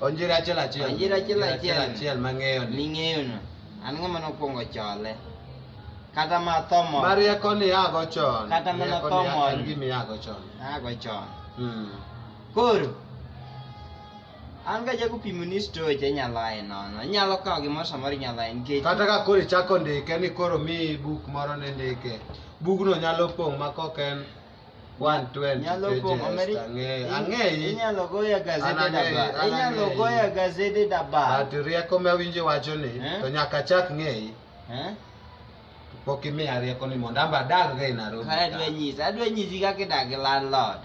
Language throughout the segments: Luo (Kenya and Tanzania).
Onjiri achiel achiel. Onjiri achiel achiel. achiel mang'eyo ni. Ming'eyo no. An ng'ama nokwongo chole. Kata ma thomo. Marieko ni ago chon. Kata mana thomo. An gimi ago chon. Ago chon. Hmm. Koro. An ga jago pimo ni story che nyalo aye nono. Nyalo kawo gimoro samoro nyalo aye nikech. Kata ka koro ichako ndike ni koro mi buk moro ne ndike. Bugno nyalo pong' ma kok en 120 Nyalo pages pong' omeri- ang'eyo in- ang'eyi Inyalo goya gazede An ang'eyi, daba. an Inyalo ang'eyi. goya gazede daba. but rieko ma awinjo wacho ni Eh? to nyaka achak ng'eyi Eh? pok imiya rieko ni mondo amba adagga e Nairobi Kaya adwa ka. nyisi, adwa nyisi kaka idak gi landlord.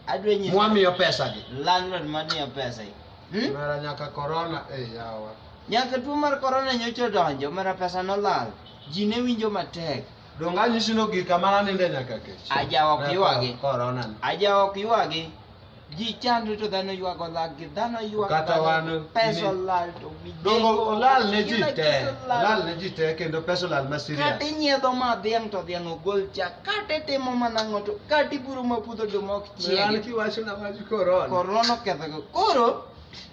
Adwa nyisi. mwamiyo pesagi Landlord madiyo pesa. yi. Hmm? mara nyaka korona e yawa Nyaka tuo mar corona nyocha odonjo, mara pesa nolal. Ji ne winjo matek. Donge anyisi ni ogik kama naninde nyaka kech? Aja ok ywagi. Korona. Aja ok ywagi. Ji chandre to dhano ywago laggi, dhano ywago Kata wan pesa olal to Dongo olal ne ji te, olal ne ji te kendo pesa olal ma serious. Kata inyiedho ma dhiang' to dhiang' ogol chak, kata itimo mana ang'o to kata iburo ma puodho to mok chiege. An kiwacho na wach korona. Korona oketho. Koro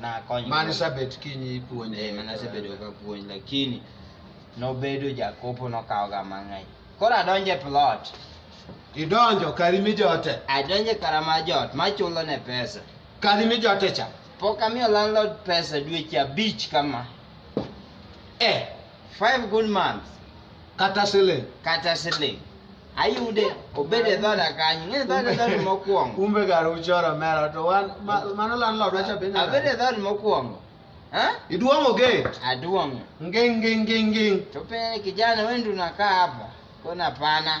nakonyo mane sabet kinyi ipuonje eh, mane asebedo ka puonj lakini nobedo jakopo nokawoga mang'eny koro adonje plot idonjo kari mijote adonje kara ma jot machulo ne pesa kari mijote cha pok amiyo landlord pesa dweche abich kama eh five good months kata siling kata siling ayude obed e dhoda kanyo ng'e dhood e dhood mokwongo kumbe gar uchoro mera to wan mano landlord wacha be na abed e dhood mokwongo iduong'o gate aduong'o nging nging nging nging to pe kijana wewe ndio unakaa hapa kuna pana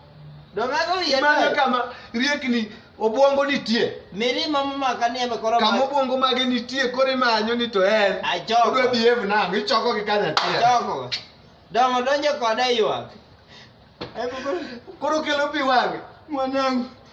Imanyo kama riekni obwongo nitie mirima momaka ni eme koro kama obwongo mage nitie koro imanyo ni to en odwa behave nang'o ichoko gi kanya achiel dongo donjo koda ywak koro kelo pi wang'e mwanangu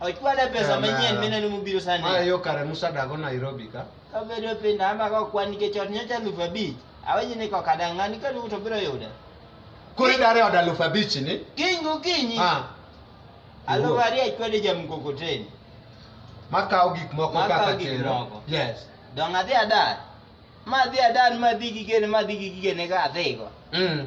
Ochwale pesa Ana. manyien mineno mobiro sani. Maya yo kare Musa dago Nairobi ka. Kabedo piny na ama ka kwan nikech ot nyocha alufu abich. Awenyi ni kok adang' ng'ani ka duto biro yuda. Koro idare od alufu abich ni? Kiny gokinyi. Ah. Alufu ariyo achwade ja mkokoteni. Makawo gik moko kaka Makawo gik chero. moko. Yes. Dong' adhi adar. Ma adhi adar ma adhi gi gene ma adhi gi gigene ka adhigo. Mm.